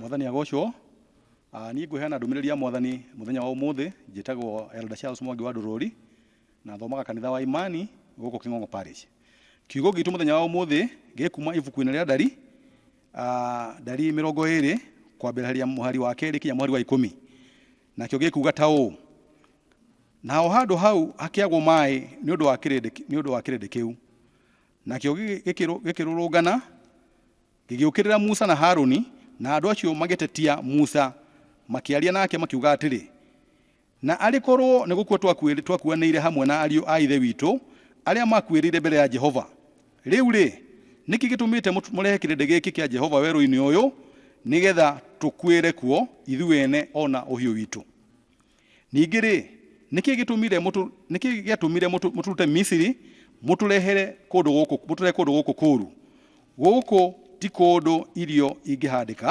mwathani agocwo Ah, niĩ ngũheana ndũmĩrĩri ya mwathani mũthenya wa ũmũthĩ njĩtagwo elder charles mwangi wa ndũrũri na thomaga kanitha wa imani gũkũ kĩng'ong'o parish kiugo gitũ mũthenya wa ũmũthĩ gĩkuma ibuku-inĩ rĩa ndari Ah, ndari mä rongo ä rä kwambärĩria må hari wa kerä kinya må hari wa ikũmi nakĩo gä kuga ta ũũ naho handũ hau hakĩagwo maĩ nĩ ũndũ wa kĩrĩndĩ nĩ ũndũ wa kĩrĩndĩ kĩu nakĩo gĩgĩ- gĩkĩrũ- gĩkĩrũrũngana gĩgĩũkĩrĩra musa na haruni na andũ acio magĩtetia musa makĩaria nake makiuga atĩrĩ Na arĩ korũo nĩ gũkua twakuĩrĩ, twakuanĩire hamwe na ariũ a Ithe witũ arĩa maakuĩrĩire mbere ya Jehova, rĩu-rĩ, nĩkĩ gĩtũmĩte mũt, mũrehe kĩrĩndĩ gĩkĩ kĩa Jehova werũ-inĩ ũyũ nĩ getha tũkuĩre kuo ithuĩ ene o na ũhiũ witũ? Ningĩ-rĩ, nĩkĩ gĩtũmire mũtũ, nĩkĩ gĩatũmire mũtũ, mũtũrute Misiri mũtũrehere kũndũ gũkũ, mũtũrehe kũndũ gũkũ kũũru? Gũkũ ti kũndũ irio ingĩhandĩka,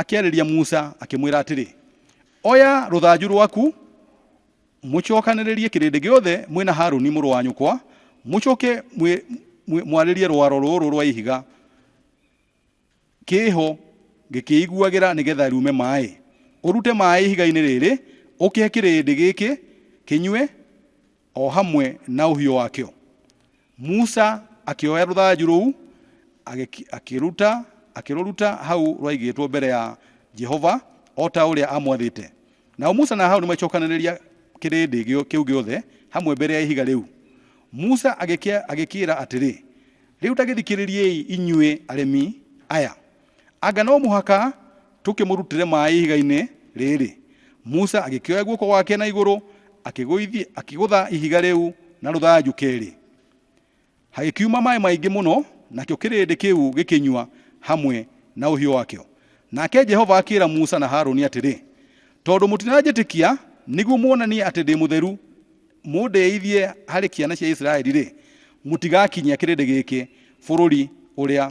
Akĩarĩria Musa akĩmwĩra atĩrĩ, Oya rũthanju rwaku, mũcokanĩrĩrie kĩrĩndĩ gĩothe mwĩ na Haruni mũrũ wa nyũkwa, mũcoke mwĩ- mwĩ- mwarĩrie rwaro rũrũ rwa ihiga kĩho gĩkĩiguagĩra nĩgetha rume maĩ ũrute maĩ ihiga-inĩ rĩrĩ ũkĩhe kĩrĩndĩ gĩkĩ kĩnyue o hamwe na ũhiũ wakĩo. Musa akĩoya rũthanju rũu agĩki- akĩruta akĩrũruta hau rwaigĩtwo mbere ya Jehova o ta ũrĩa amwathĩte. Nao Musa na Haruni magĩcokanĩrĩria kĩrĩndĩ gĩo- kĩu gĩothe hamwe mbere ya ihiga rĩu. Musa agĩkĩa- agĩkĩĩra atĩrĩ, Rĩu ta gĩthikĩrĩriei inyuĩ aremi aya. Anga no mũhaka tũkĩmũrutĩre maĩ ihiga-inĩ rĩrĩ? Musa agĩkĩoya guoko gwake na igũrũ akĩgũithia, akĩgũtha ihiga rĩu na rũthanju kerĩ, hagĩkiuma maĩ maingĩ mũno, nakĩo kĩrĩndĩ kĩu gĩkĩnyua hamwe na ũhiũ wakĩo. Nake Jehova akĩĩra Musa na Harũni atĩrĩ, Tondũ mũtiranjĩtĩkia nĩguo muonanie atĩ ndĩ mũtheru, mũndĩithie harĩ ciana cia Isiraeli-rĩ, mũtigakinyia kĩrĩndĩ gĩkĩ bũrũri ũrĩa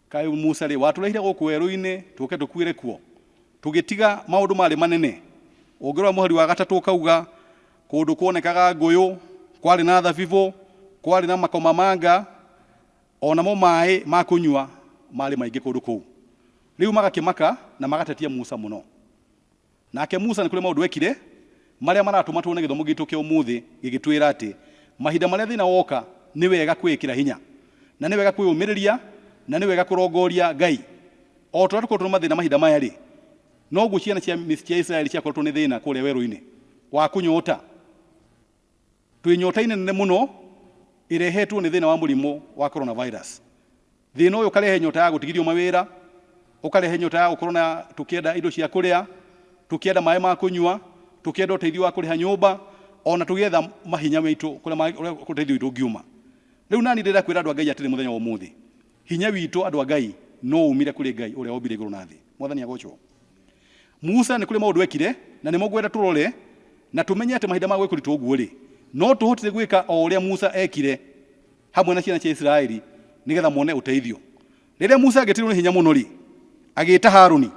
Kaĩ Musa-rĩ, watũrehire gũkũ werũ-inĩ tũke tũkuĩre kuo? Tũgĩtiga maũndũ marĩ manene? Ũngĩrora mũhari wa gatatũ ũkauga, Kũndũ kuonekaga ngũyũ, kwarĩ na thabibũ, kwarĩ na makomamanga, o namo maĩ ma kũnyua maarĩ maingĩ kũndũ kũu. Rĩu magakĩmaka na magatetia Musa mũno. Nake Musa nĩ kũrĩ maũndũ eekire marĩa maratũma tuone gĩthomo gitũ kĩa ũmũthĩ gĩgĩtwĩra atĩ mahinda marĩa thĩna woka nĩ wega kwĩĩkĩra hinya, na nĩ wega kwĩyũmĩrĩria, na nĩ wega kũrongooria Ngai. O ta ũrĩa tũkoretwo na mathĩna mahinda maya-rĩ, noguo ciana cia Isiraeli ciakoretwo nĩ thĩna kũrĩa werũ-inĩ wa kũnyoota. Twĩ nyotainĩ nene mũno ĩrehetwo nĩ thĩna wa mũrimũ wa coronavirus. Thĩna ũyũ ũkarehe nyota ya gũtigithio mawĩra, ũkarehe nyota ya gũkorwo na tũkĩenda indo cia kũrĩa, tũkĩenda maĩ ma kũnyua, tũkĩenda ũteithio wa kũrĩha nyũmba, ona tũgĩetha mahinya maitũ kũrĩa ũteithio witũ ũngiuma. Rĩu nani ndĩrenda kwĩra andũ a Ngai atĩrĩ mũthenya wa ũmũthĩ, hinya witũ andũ a Ngai no umire kũrĩ Ngai ũrĩa wombire igũrũ na thĩ. Mwathani agocwo. Musa nĩ kũrĩ maũndũ ekire na nĩmo ngwenda tũrore na tũmenye atĩ mahinda ma gwĩkũritwo ũguo-rĩ, no tũhotire gwĩka o ũrĩa Musa ekire hamwe na ciana cia Isiraeli nĩgetha mone ũteithio. Rĩrĩa Musa angĩtirwo nĩ hinya mũno-rĩ, agĩĩta Haruni.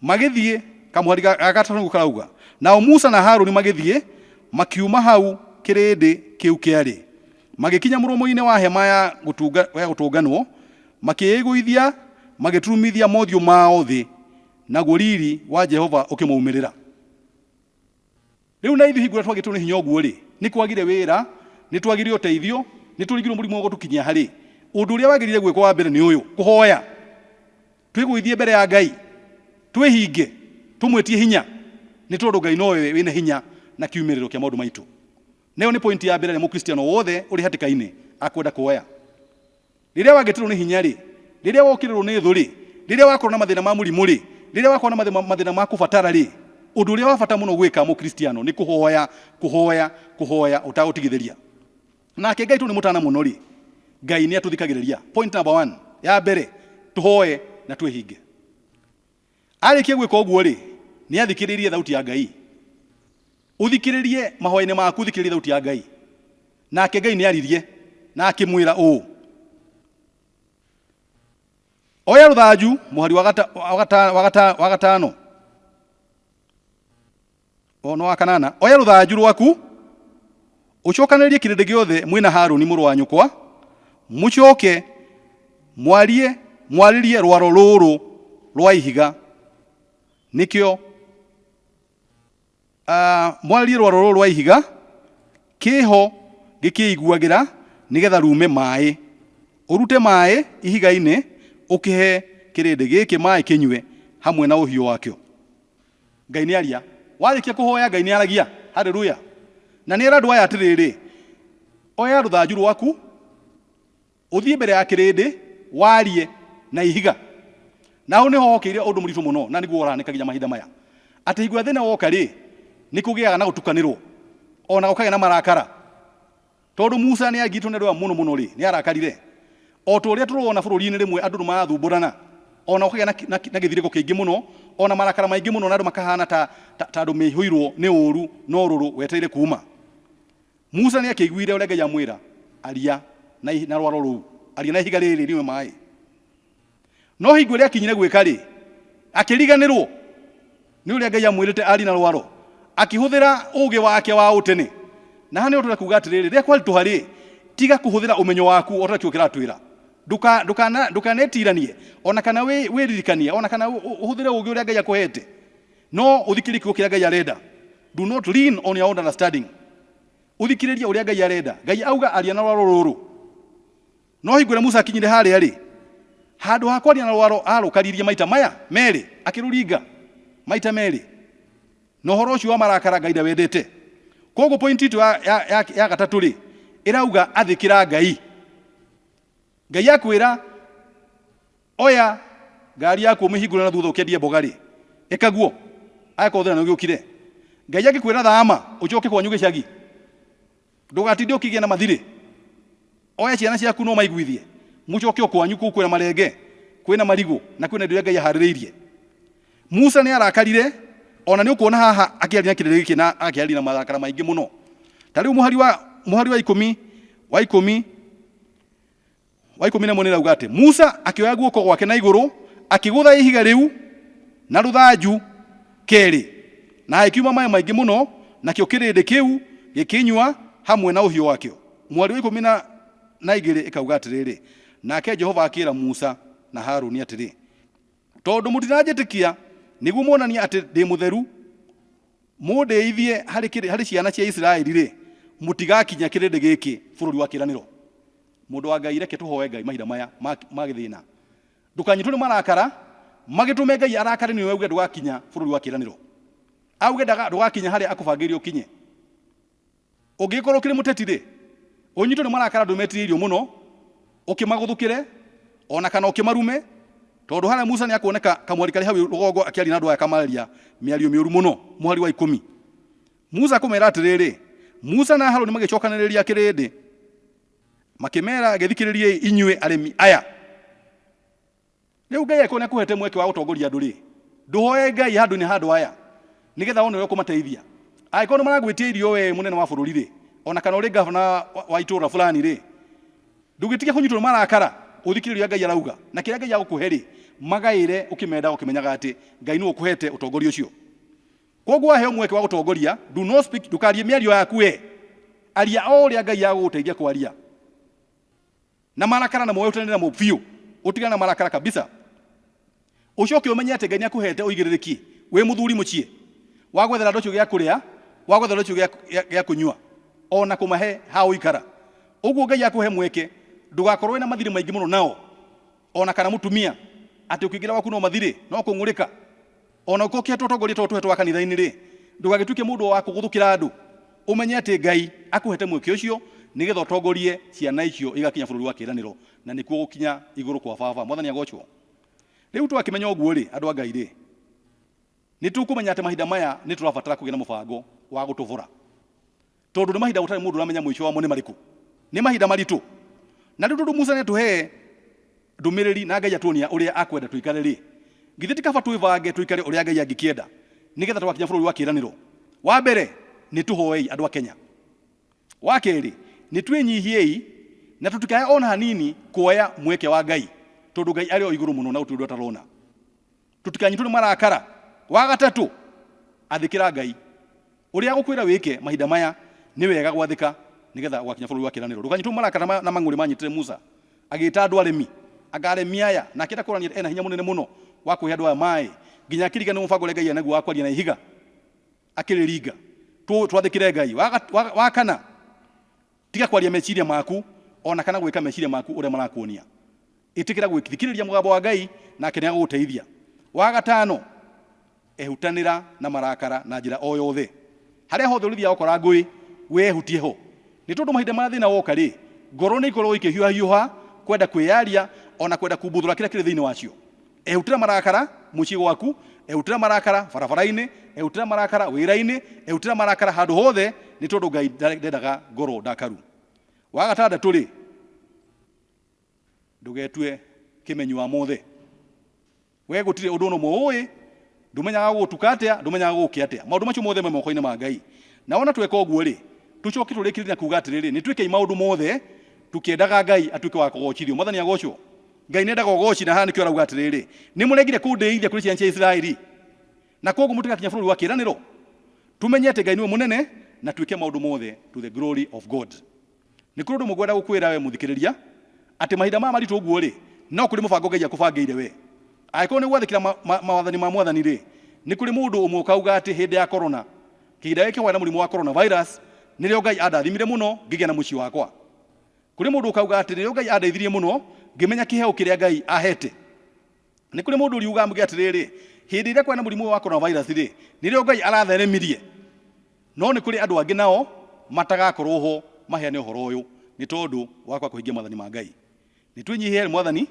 Magĩthiĩ, kamũhari ga ga gatatũ nĩguo karauga, nao Musa na Haruni magĩthiĩ, makiuma hau kĩrĩndĩ kĩu kĩarĩ, magĩkinya mũromo-inĩ wa hema ya gũtũnga ya gũtũnganwo, Makĩĩgũithia magĩturumithia mothiũ mao thĩ, naguo riri wa Jehova ũkĩmaumĩrĩra. Rĩu na ithuĩ hingo ĩrĩa twagĩtwo nĩ hinya ũguo-rĩ, nĩ kwagire wĩra, nĩ twagire ũteithio, nĩ tũringirwo mũrimũ wa gũtũkinyia ha-rĩ, ũndũ ũrĩa wagĩrĩire gwĩkwo wa mbere nĩ ũyũ, kũhoya, twĩgũithie mbere ya Ngai, twĩhinge, tũmwĩtie hinya, nĩ tondũ Ngai nowe wĩna hinya na kiumĩrĩro kĩa maũndũ maitũ. Na ĩyo nĩ pointi ya mbere ĩrĩa Mũkristiano wothe ũrĩ hatĩka-inĩ akwenda kuoya. rĩrĩa wangĩtirwo nĩ hinya-rĩ rĩrĩa wokĩrĩrwo nĩ thũ-rĩ rĩrĩa wakorwo na mathĩna ma mũrimũ-rĩ rĩrĩa wakorwo na mathĩna ma kũbatara-rĩ ũndũ ũrĩa wa bata mũno gwĩka mũkristiano nĩ kũhoya kũhoya kũhoya ũtagũtigithĩria nake Ngai tondũ nĩ mũtana mũno-rĩ Ngai nĩ atũthikagĩrĩria point number one ya mbere tũhoe na twĩhinge Arĩkia gwĩka ũguo-rĩ, nĩathikĩrĩirie thauti ya Ngai. Ũthikĩrĩrie mahoya-inĩ maku, ũthikĩrĩrie thauti ya Ngai. Nake Ngai nĩaririe na akĩmwĩra ũũ, Oya rũthanju, mũhari wa gata, wa gata, wa gata, wa gatano, Ono wa kanana, oya rũthanju rwaku, ũcokanĩrĩrie kĩrĩndĩ gĩothe mwĩ na Harũni mũrũ wa nyũkwa, mũcoke mwarie mwarĩrie rwaro rũrũ rwa ihiga, nĩkĩo ah, mwarĩrie rwaro rũrũ rwa ihiga, kĩho gĩkĩiguagĩra nĩgetha rume maĩ. Ũrute maĩ ihiga-inĩ, ũkĩhe kĩrĩndĩ gĩkĩ maĩ kĩnyue hamwe na ũhiũ wakĩo. Ngai nĩ aria. Warĩkia kũhoya Ngai nĩ aragia. Haleluya. Na nĩ era andũ aya atĩrĩrĩ, oya rũthanju rwaku, ũthiĩ mbere ya kĩrĩndĩ, warie na ihiga. Na hau nĩho hokĩire ũndũ mũritũ mũno, na nĩguo ũrahanĩka nginya mahinda maya. Atĩ hingo ĩrĩa thĩna woka-rĩ, nĩ kũgĩaga na gũtukanĩrwo, o na gũkagĩa na marakara. Tondũ Musa nĩ aagitwo nĩ rũa mũno mũno-rĩ, nĩ aarakarire. O ta ũrĩa tũrona bũrũri-inĩ rĩmwe andũ nĩ marathumburana, o na gũkagĩa na gĩthirĩko kĩingĩ mũno, o na marakara maingĩ mũno, na andũ makahaana ta ta andũ maihũirũo nĩ ũũru na ũrũrũ wetereire kuuma. Musa nĩ akĩiguire ũrĩa Ngai amwĩra, Aria na rwaro rũu, aria na ihiga rĩrĩ rĩnyue maĩ. no hingo ĩrĩa akinyire gwĩka rĩ akĩriganĩrwo nĩ ũrĩa ngai amwĩrĩte ari na rwaro akĩhũthĩra ũgĩ wake wa ũtene na hana ũtũra kuga atĩrĩrĩ rĩrĩa kwaritũha rĩ tiga kũhũthĩra ũmenyo waku ũrĩa kĩo kĩratwĩra Ndũka- ndũkana- ndũkanetiranie ona kana wĩ- wĩririkanie ona kana ũ- ũ- ũhũthĩre ũgĩ ũrĩa ngai akũhete no ũthikĩrĩrie kiugo kĩrĩa ngai arenda do not lean on your own understanding ũthikĩrĩrie ũrĩa ngai arenda ngai auga aria na rwaro rũrũ No hingo ĩrĩa Musa akinyire harĩa-rĩ, handũ ha kwaria na rwaro aarũkaririe maita maya merĩ, akĩrũringa maita merĩ, na ũhoro ũcio wa marakara Ngai ndawendete. Koguo pointi itũ ya, ya, ya, ya gatatũ-rĩ, ĩrauga athĩkĩra Ngai. Ngai akwĩra oya ngari yaku ũmĩhingũre na thutha ũkendie mboga-rĩ, ĩka guo, angĩkorwo thĩna nĩũgĩũkire. Ngai angĩkwĩra thama ũcoke kwanyu gĩcagi, ndũgatinde ũkĩgĩa na mathirĩ oya ciana ciaku no maiguithie mucoke okwanyu kuu kwina marenge kwina marigu na kwina indo iria ngai aharĩrĩirie musa nĩ arakarire ona nĩ ũkuona haha akĩaria na kĩrĩrĩ gĩkĩ na akĩaria na marakara maingĩ mũno ta rĩu mũhari wa mũhari wa ikũmi wa ikũmi wa ikũmi na ĩmwe nĩrauga atĩ musa akĩoya guoko gwake na igũrũ akĩgũtha ihiga rĩu na rũthanju kerĩ na hagĩkiuma maĩ maingĩ mũno nakĩo kĩrĩndĩ kĩu gĩkĩnyua hamwe na ũhiũ wakĩo mwarĩ wa ikũmi na na igĩrĩ ĩkauga atĩrĩrĩ nake jehova akĩra musa na haruni atĩrĩ Tondũ mũtiranjĩtĩkia nĩguo muonanie atĩ ndĩ mũtheru, mũndĩithie harĩ kĩrĩ- harĩ ciana cia Isiraeli-rĩ, mũtigakinya kĩrĩndĩ gĩkĩ bũrũri wa kĩĩranĩro. Mũndũ wa Ngai, reke tũhoe Ngai mahinda maya ma ma gĩthĩna. Ndũkanyitwo nĩ marakara, magĩtũme Ngai arakare nĩwe auge ndũgakinya bũrũri wa kĩĩranĩro. Auge ndaga- ndũgakinya harĩa akũbangĩire ũkinye. Ũngĩgĩkorwo ũkĩrĩ mũteti-rĩ, ũnyitwo nĩ marakara ndũmetirĩirio mũno, ũkĩmagũthũkĩre, o na kana ũkĩmarume, tondũ harĩa Musa nĩakuoneka kamweri karĩ hau rũgongo akĩaria na andũ aya akamaararia mĩario mĩũru mũno. Mũhari wa ikũmi. Musa akũmera atĩrĩrĩ, Musa na Harũni magĩcokanĩrĩria kĩrĩndĩ, makĩmera, Gĩthikĩrĩriei inyuĩ arĩmi aya. Rĩu Ngai angĩkorwo nĩ akũhete mweke wa gũtongoria andũ rĩ, ndũhoe Ngai handũ-inĩ ha andũ aya nĩgetha wone ũrĩa ũkũmateithia. Angĩkorwo nĩ maragwĩtia irio we mũnene wa bũrũri rĩ, ona kana ũrĩ ngavana wa- wa- wa itũũra fulani rĩ, ndũgĩtige kũnyitwo nĩ marakara ũthikĩrĩrie ũrĩa Ngai arauga na kĩrĩa Ngai agũkũhe rĩ, magaĩre ũkĩmendaga ũkĩmenyaga atĩ Ngai nĩwe ũkũhete ũtongoria ũcio. Koguo waheo mweke wa gũtongoria, do not speak, ndũkarie mĩario yaku we, aria o ũrĩa Ngai agũgũteithia kwaria. na marakara na moe ũtene namo biũ ũtigane na marakara kabisa ũcoke ũmenye atĩ ngai nĩ akũhete ũigĩrĩrĩki wĩ mũthuri mũciĩ wa gwethera andũ acio gĩa kũrĩa wa gwethera andũ acio gĩa- gĩa- gĩa kũnyua o na kũmahe ha ũikara ũguo ngai akũhe mweke ndũgakorwo wĩna mathirĩ maingĩ mũno nao o na kana mũtumia atĩ ũkĩingĩra waku no mathirĩ no kũng'ũrĩka O na ũkokĩra tũtongoria tũrĩa tũhetwo wa kanitha-inĩ-rĩ, ndũgagĩtuĩke mũndũ wa kũgũthũkĩra andũ. Ũmenye atĩ Ngai akũhete mweke ũcio nĩgetha ũtongorie ciana icio igakinya bũrũri wa kĩĩranĩro, na nĩkuo gũkinya igũrũ kwa Baba. Mwathani agoocwo! Rĩu twakĩmenya ũguo-rĩ, andũ a Ngai-rĩ, nĩtũkũmenya atĩ mahinda maya nĩtũrabatara kũgĩa na mũbango wa gũtũvũra. Tondũ nĩ mahinda gũtarĩ mũndũ ũramenya mũico wamo nĩ marĩkũ. Nĩ mahinda maritũ. Na rĩu tondũ Musa nĩatũhe ndũmĩrĩri na Ngai atuonia ũrĩa akwenda tũikare-rĩ, githĩ ti kaba twĩbange tũikare ũrĩa Ngai angĩkĩenda nĩgetha tũgakinya bũrũri wa kĩĩranĩro? Wa mbere, nĩ tũhoei andũ a Kenya. Wa kerĩ, nĩ twĩnyihiei na tũtikae o na hanini kuoya mweke wa Ngai tondũ Ngai arĩ o igũrũ mũno na gũtirĩ ũndũ atarona. Tũtikanyitwo nĩ marakara. Wa gatatũ, athĩkĩra Ngai. Ũrĩa agũkwĩra wĩke mahinda maya, nĩ wega gwathĩka nĩ getha ũgakinya bũrũri wa kĩĩranĩro. Ndũkanyitwo nĩ marakara maya na mang'ũrĩ maanyitire Musa, agĩĩta andũ aremi, anga aremi aya, na akĩenda kuonania atĩ e na hinya mũnene mũno wa kũhe andũ aya maaĩ, nginya akĩririkanĩrwo mũbango ũrĩa Ngai arĩ naguo wa kwaria na ihiga, akĩrĩringa. Twathĩkĩre Ngai. Wa kana, Tiga kwaria meciria maku, o na kana gwĩka meciria maku ũrĩa marakuonia. Ĩtĩkĩra gũthikĩrĩria mũgambo wa Ngai, nake nĩ agũgũteithia. Wa gatano, ehutanĩra na marakara na njĩra o yothe. Harĩa hothe ũrĩthiaga ũkora ngũĩ, wee ehutie ho. Nĩ tondũ mahinda marĩa thĩna woka-rĩ, ngoro nĩ ikoragwo ikĩhiũhahiũha, kwenda kwĩyaria, o na kwenda kumbũthũra kĩrĩa kĩrĩ thĩinĩ wacio. Ehutĩra marakara mũciĩ gwaku, ehutĩra marakara barabara-inĩ, ehutĩra marakara wĩra-inĩ, ehutĩra marakara handũ hothe, nĩ tondũ Ngai ndendaga ngoro ndakaru. Wa gatandatũ-rĩ, ndũgetue kĩmenyi wa mothe. We gũtirĩ ũndũ ũno mũũĩ, ndũmenyaga gũgũtuka atĩa, ndũmenyaga gũgũkĩa atĩa. Maũndũ macio mothe me moko-inĩ ma Ngai. Na wona tweka ũguo-rĩ, tũcoke tũrĩkĩrĩrie na kuuga atĩrĩrĩ, nĩ twĩkei maũndũ mothe tũkĩendaga Ngai atuĩke wa kũgocithio. Mwathani agocwo. ngai nendaga ũgooci na haha nĩkĩo arauga atĩrĩrĩ nĩ mũregire kũndĩithia kũrĩ ciana cia isiraeli na koguo mũtigakinya bũrũri wa kĩĩranĩro tũmenye atĩ ngai nĩwe mũnene na twĩke maũndũ mothe to the glory of god nĩ kũrĩ ũndũ ũmwe ngwenda gũkwĩra we mũthikĩrĩria atĩ mahinda maya maritũ ũguo rĩ no kũrĩ mũbango ngai akũbangĩire we angĩkorwo nĩ gwathĩkĩra ma- ma- mawathani ma mwathani rĩ nĩ kũrĩ mũndũ ũmwe ũkauga atĩ hĩndĩ ya korona kĩhinda gĩkĩ hwaĩ na mũrimũ wa coronavirus nĩrĩo ngai andathimire mũno ngĩgĩa na mũciĩ wakwa Kũrĩ mũndũ ũkauga atĩrĩ, rĩu Ngai andeithirie mũno ngĩmenya kĩheo kĩrĩa Ngai ahete. Nĩ kũrĩ mũndũ ũriuga amge atĩrĩrĩ, hĩndĩ ĩrĩa kwarĩ na mũrimũ ũyũ wa coronavirus rĩ, nĩrĩo Ngai aratheremirie. No nĩ kũrĩ andũ angĩ nao matagakorwo ho maheane ũhoro ũyũ nĩ tondũ wa kwaga kũhingia maathani ma Ngai. Nĩ twĩnyihie harĩ mwathani,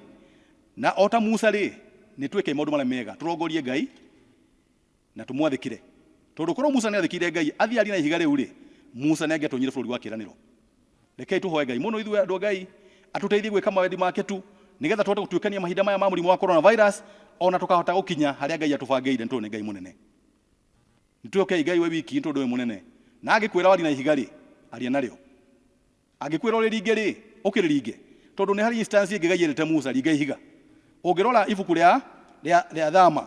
na o ta Musa rĩ, nĩ twĩke maũndũ marĩa mega tũrongorie Ngai Na tũmwathĩkĩre. Tondũ korũo Musa nĩ aathĩkĩire Ngai athiĩ arie na ihiga rĩu-rĩ, Musa nĩ angĩatonyire Bũrũri wa Kĩĩranĩro. Rekei tũhoe Ngai mũno ithuĩ andũ a Ngai atũteithie gwĩka mawendi make tu nĩgetha tũhote gũtuĩkania mahinda maya ma mũrimũ wa coronavirus o na tũkahota gũkinya harĩa Ngai atũbangĩire nĩ tondũ nĩ Ngai mũnene. Nĩ twĩhokei Ngai we wiki nĩ tondũ we mũnene. Na angĩkwĩra warie na ihiga-rĩ, aria narĩo. Angĩkwĩra ũrĩringe-rĩ, ũkĩrĩringe, tondũ nĩ harĩ instance ĩngĩ Ngai erĩte Musa, Ringa ihiga. Ũngĩrora ibuku rĩa, rĩa, rĩa Thama,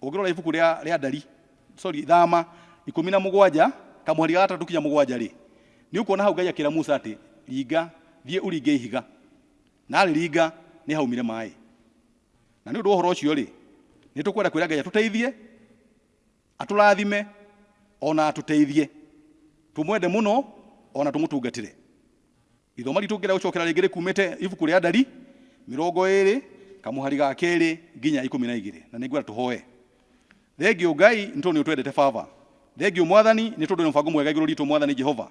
ũngĩrora ibuku rĩa, rĩa Ndari, sorry, Thama, ikũmi na mũgwanja, kamũhari ga gatatũ kinya mũgwanja-rĩ, nĩ ũkuona hau Ngai akĩra Musa atĩ, Ringa, thiĩ ũringe ihiga. Na arĩringa, nĩ haumire maĩ. Na nĩ ũndũ wa ũhoro ũcio-rĩ, nĩ tũkwenda kwĩra Ngai atũteithie, Atũrathime o na atũteithie tũmwende mũno o na tũmũtungatĩre. Ithomo ritũ ngĩenda gũcokera rĩngĩ rĩkumĩte ibuku rĩa Ndari mĩrongo ĩrĩ kamũhari ga kerĩ nginya ikũmi na igĩrĩ na nĩ ngwenda tũhoe. Thengiũ Ngai nĩ tondũ nĩ ũtwendete Baba. Thengiũ Mwathani nĩ tondũ wĩna mũbango mwega igũrũ ritũ Mwathani Jehova.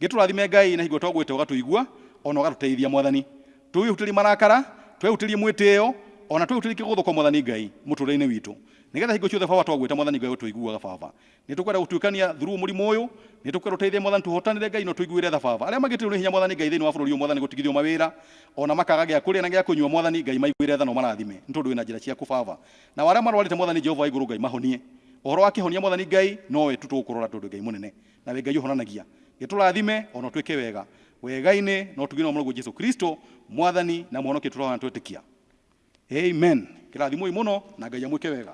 Gĩtũrathime Ngai na hingo twagwĩte ũgatũigua o na ũgatũteithia Mwathani. Twĩhutĩrie marakara, twehutĩrie mwĩtĩo o na twehutĩrie kĩgũthũko Mwathani Ngai mũtũrĩre-inĩ witũ. Nĩgetha hingo ciothe Baba twagwĩta Mwathani Ngai ũtũiguaga Baba. Nĩtũkwenda gũtuĩkania through mũrimũ ũyũ. Nĩtũkwenda ũteithie Mwathani tũhotanĩre Ngai na ũtũiguĩre tha Baba. Arĩa magĩtĩrwo nĩ hinya Mwathani Ngai thĩinĩ wa bũrũri ũyũ Mwathani gũtigithio mawĩra ona makaga gĩa kũrĩa na gĩa kũnyua Mwathani Ngai maiguĩre tha na ũmarathime nĩ tondũ wĩna njĩra ciaku Baba. Nao arĩa marwarĩte Mwathani Jehova wa igũrũ Ngai mahonie. Ũhoro wa kĩhonia Mwathani Ngai nowe tu tũgũkũrora tondũ Ngai mũnene. Nawe Ngai ũhonanagia. Gĩtũrathime ona ũtwĩke wega. Wegainĩ na ũtuginĩ wa Mũrũguo Jesu Kristo Mwathani na Mũhonokia tũrahoya na twetĩkia. amen kĩrathimoi mũno na ngai amwĩke wega